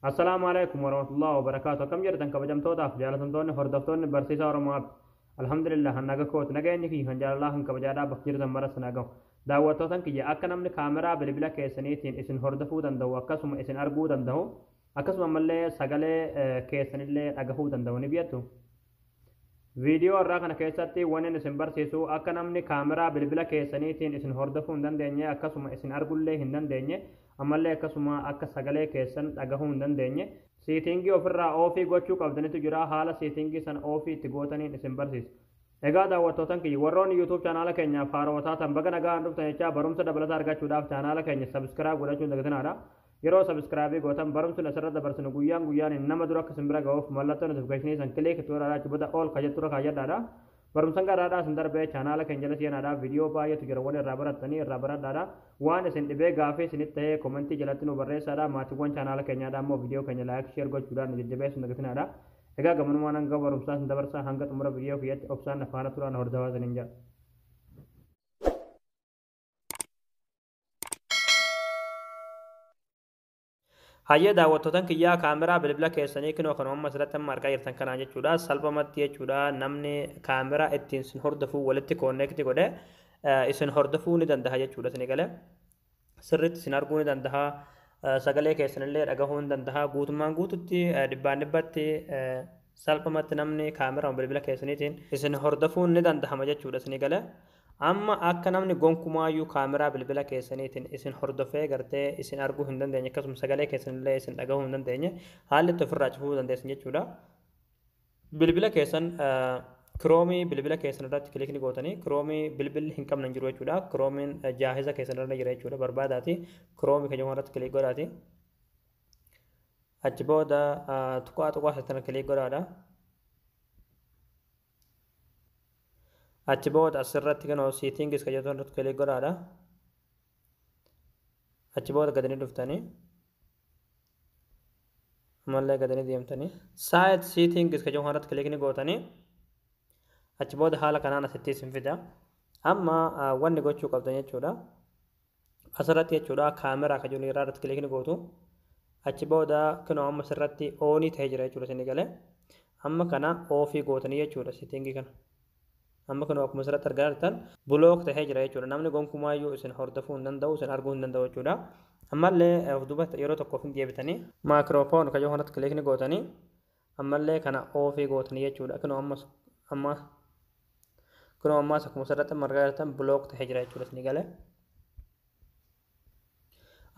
Assalaamu alaikum warahmatullahi wabarakaatu akkam jirtan kabajamtootaaf jaalatamtoonni hordoftoonni barsiisaa Oromoo App alhamdulillah naga kooti nageenyi kiyya kan jaalalaa kan kabajaadhaa bakka jirtan maras nagahu daawwattootan kiyya akka namni kaameraa bilbila keessaniitiin isin hordofuu danda'u akkasuma isin arguu danda'u akkasuma ammallee sagalee keessanillee dhagahuu danda'u ni biyattu Viidiyoo har'aa kana keessatti wanin isin barsiisu akka namni kaameraa bilbila keessaniitiin isin hordofuu hin dandeenye akkasuma isin argullee hin dandeenye ammallee akkasuma akka sagalee keessan dhagahuu hin dandeenye siitingii ofirraa oofii gochuu qabdanitu jira haala siitingii san oofii itti gootaniin isin barsiisa. Egaa daawwattootan kiyya warroonni YouTube chaanaala keenyaaf haarawaa taatan baga nagaan dhuftan jechaa barumsa dabalataa argachuudhaaf chaanaala keenya sabiskiraayib godhachuun dagatinaadha. Yeroo subscribe gootan barumsni asirra dabarsinu guyyaan guyyaan nama dura akka isin bira ga'uuf mallattoo notification san click to irraa achi booda all ka jettu irra kaayyadhaadha. Barumsan garaadhaa isin darbee chaanaala keenya jala seenaadhaa viidiyoo baay'eetu jira wal irraa barattanii irraa baradhaadha. Waan isin dhibee gaafii isinitti ta'ee komentii jalatti nu barreessaadha. Maatiiwwan chaanaala keenyaadhaa immoo viidiyoo keenya laayik sheer gochuudhaan nu jajjabeessu hin dagatinaadha. Egaa gamanumaan hanga barumsaa isin dabarsaa hanga xumura viidiyoo kiyyatti obsaan na faana turaan hordofaa isiniin jedha. Hayyee daawwattootan kiyyaa kaameraa bilbila keessanii kinoo kanuma amma asirratti amma argaa jirtan kanaan jechuudha salphamatti jechuudha namni kaameraa ittiin sin hordofuu walitti koonneekti godhe isin hordofuu ni danda'a jechuudha isin galee sirriitti isin arguu ni danda'a sagalee keessanillee dhagahuu ni danda'a guutummaan guututti dhibbaan dhibbatti salphamatti namni kaameraa bilbila keessaniitiin isin hordofuun ni danda'ama jechuudha isin galee Amma akka namni gonkumaayyuu kaameraa bilbila keessaniitiin isin hordofee gartee isin arguu hin dandeenye akkasuma sagalee keessan illee isin dhagahuu hin dandeenye haalli itti ofirraa cufuu dandeessan jechuudha. Bilbila keessan kiroomii bilbila keessan irratti kilikni gootanii kiroomii bilbilli hin qabne hin jiru jechuudha. Kiroomiin jaahiza keessan irra jira jechuudha. Barbaadaati kiroomii kan jedhamu irratti kilik godhaati. Achi booda tuqaa tuqaa keessan kilik godhaadha. achi booda asirratti kan hoo settings kan jettan irratti kilik godhaadha achi booda gadanii dhuftanii ammallee gadanii deemtanii site settings kan jettan irratti kilik ni gootanii achi booda haala kanaan asittis hin fida amma wanni gochuu qabdan jechuudha asirratti jechuudha kaameraa kan jiru irraa irratti kilikni gootu achi booda kunoo amma asirratti oonii ta'ee jira jechuudha isin galee amma kana oofii gootanii jechuudha sitingii kana amma kunoo akkuma asirratti argaa jirtan bulook ta'ee jira jechuudha namni gonkumaayyuu isin hordofuu hin danda'u isin arguu hin danda'u jechuudha ammallee of duuba yeroo tokkoof hin deebitanii maakiroofoon kan jiru kanatti kilikni gootanii Ammallee kana oofii gootanii jechuudha. Kunoo ammas amma kunoo ammaas akkuma asirratti amma argaa jirtan block ta'ee jira jechuudha isinii galee.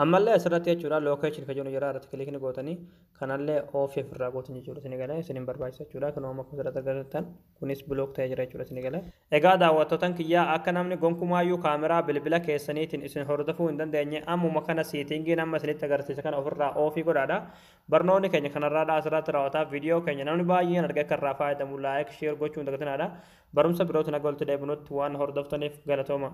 Ammallee asirratti jechuudha location kan jedhu jira irratti kilikni gootanii kanallee oofii ofirraa gootan jechuudha isinii galee isin hin barbaachisa jechuudha. Kunoo amma akkuma asirratti argaa jirtan. Kunis block ta'ee jira jechuudha isinii gala. Egaa daawwattootan kiyyaa akka namni gonkumaayyuu kaameraa bilbila keessaniitiin isin hordofuu hin dandeenye ammuma kana seetingiin amma isinitti agarsiise kana ofirraa oofii godhaadha. Barnoonni keenya kanarraadha asirratti raawwata. Viidiyoo keenya namni baay'een argee akka irraa faayadamu like, share gochuu hin dagatinaadha. Barumsa birootiin haga walitti deebinutti waan hordoftaniif galatooma.